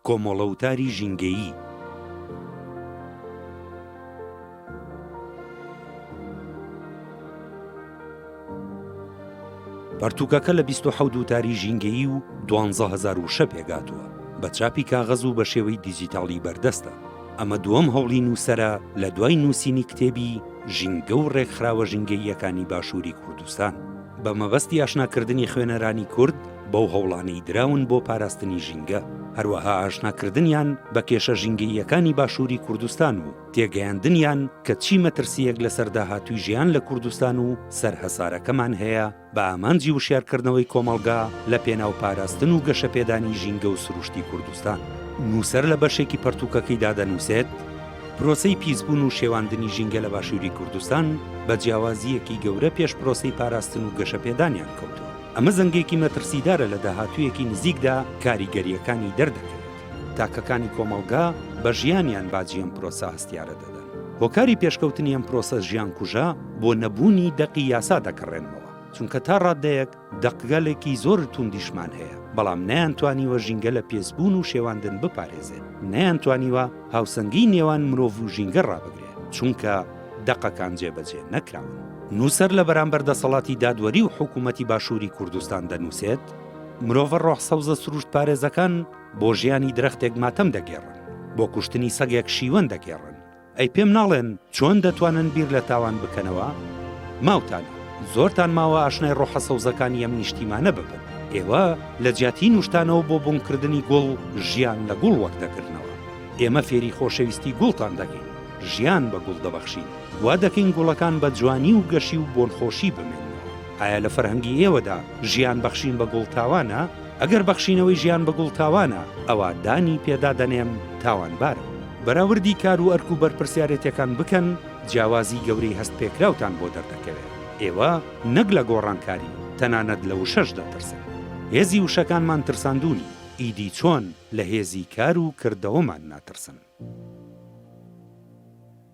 کۆمەڵە وتاری ژینگەیی. پەرتووکەکە لە بیست و حەوت وتاری ژینگەیی و دوانزە هەزار وشە پێکهاتووە، بە چاپی کاغەز و بە شێوەی دیجیتاڵی بەردەستە. ئەمە دووەم هەوڵی نووسەرە لە دوای نووسینی کتێبی، ژینگە و ڕێکخراوە ژینگەییەکانی باشووری کوردستان، بە مەبەستی ئاشناکردنی خوێنەرانی کورد، بەو هەوڵانەی دراون بۆ پاراستنی ژینگە، هەروەها ئاشناکردنیان بە کێشە ژینگەییەکانی باشووری کوردستان و تێگەیاندنیان کە چی مەترسییەک لەسەر داهاتووی ژیان لە کوردستان و سەر هەسارەکەمان هەیە بە ئامانجی وشیارکردنەوەی کۆمەڵگا لە پێناو پاراستن و گەشەپێدانی ژینگە و سروشتی کوردستان. نووسەر لە بەشێکی پەرتووکەکەیدا دەنووسێت، پرۆسەی پیسبوون و شێواندنی ژینگە لە باشووری کوردستان بە جیاوازییەکی گەورە پێش پرۆسەی پاراستن و گەشەپێدانیان کەوتووە. ئەمە زەنگێکی مەترسیدارە لە داهاتوویەکی نزیکدا کاریگەرییەکانی دەردەکەوێت. تاکەکانی کۆمەڵگا بە ژیانیان باجی ئەم پرۆسە هەستیارە دەدەن. هۆکاری پێشکەوتنی ئەم پرۆسە ژیانکوژە بۆ نەبوونی دەقی یاسا دەگەڕێنمەوە، چونکە تا ڕاددەیەک دەقگەلێکی زۆر توندیشمان هەیە، بەڵام نەیانتوانیوە ژینگە لە پێسبوون و شێواندن بپارێزێت، نەیانتوانیوە هاوسەنگیی نێوان مرۆڤ و ژینگە ڕابگرێت، چونکە. دەقەکان جێبەجێ نەکراون. نووسەر لە بەرامبەر دەسەڵاتی دادوەری و حکوومەتی باشووری کوردستان دەنووسێت، مرۆڤە ڕۆح سەوزە سرووشتپارێزەکان بۆ ژیانی درەختێک ماتەم دەگێڕن، بۆ کوشتنی سەگێک شیوەن دەگێڕن، ئەی پێم ناڵێن چۆن دەتوانن بیر لە تاوان بکەنەوە؟ ماوتانە، زۆرتان ماوە ئاشنای ڕۆحە سەوزەکانی ئەم نیشتیمانە ببن. ئێوە لە جیاتی نووشتانەوە بۆ بۆنکردنی گوڵ، ژیان لە گوڵ وەردەگرنەوە. ئێمە فێری خۆشەویستی گوڵتان دەکەین. ژیان بە گوڵ دەبەخشین، وا دەکەین گوڵەکان بە جوانی و گەشی و بۆنخۆشی بمێننەوە. ئایا لە فەرهەنگی ئێوەدا ژیان بەخشین بە گوڵ تاوانە؟ ئەگەر بەخشینەوەی ژیان بە گوڵ تاوانە، ئەوا دانی پێدا دەنێم تاوانبارم. بەراوردی کار و ئەرک و بەرپرسیارێتیەکان بکەن، جیاوازی گەورەی هەست پێکراوتان بۆ دەردەکەوێت. ئێوە نەک لە گۆڕانکاری، تەنانەت لە وشەش دەترسن. هێزی وشەکانمان ترساندوونی، ئیدی چۆن؟ لە هێزی کار و کردەوەمان ناترسن.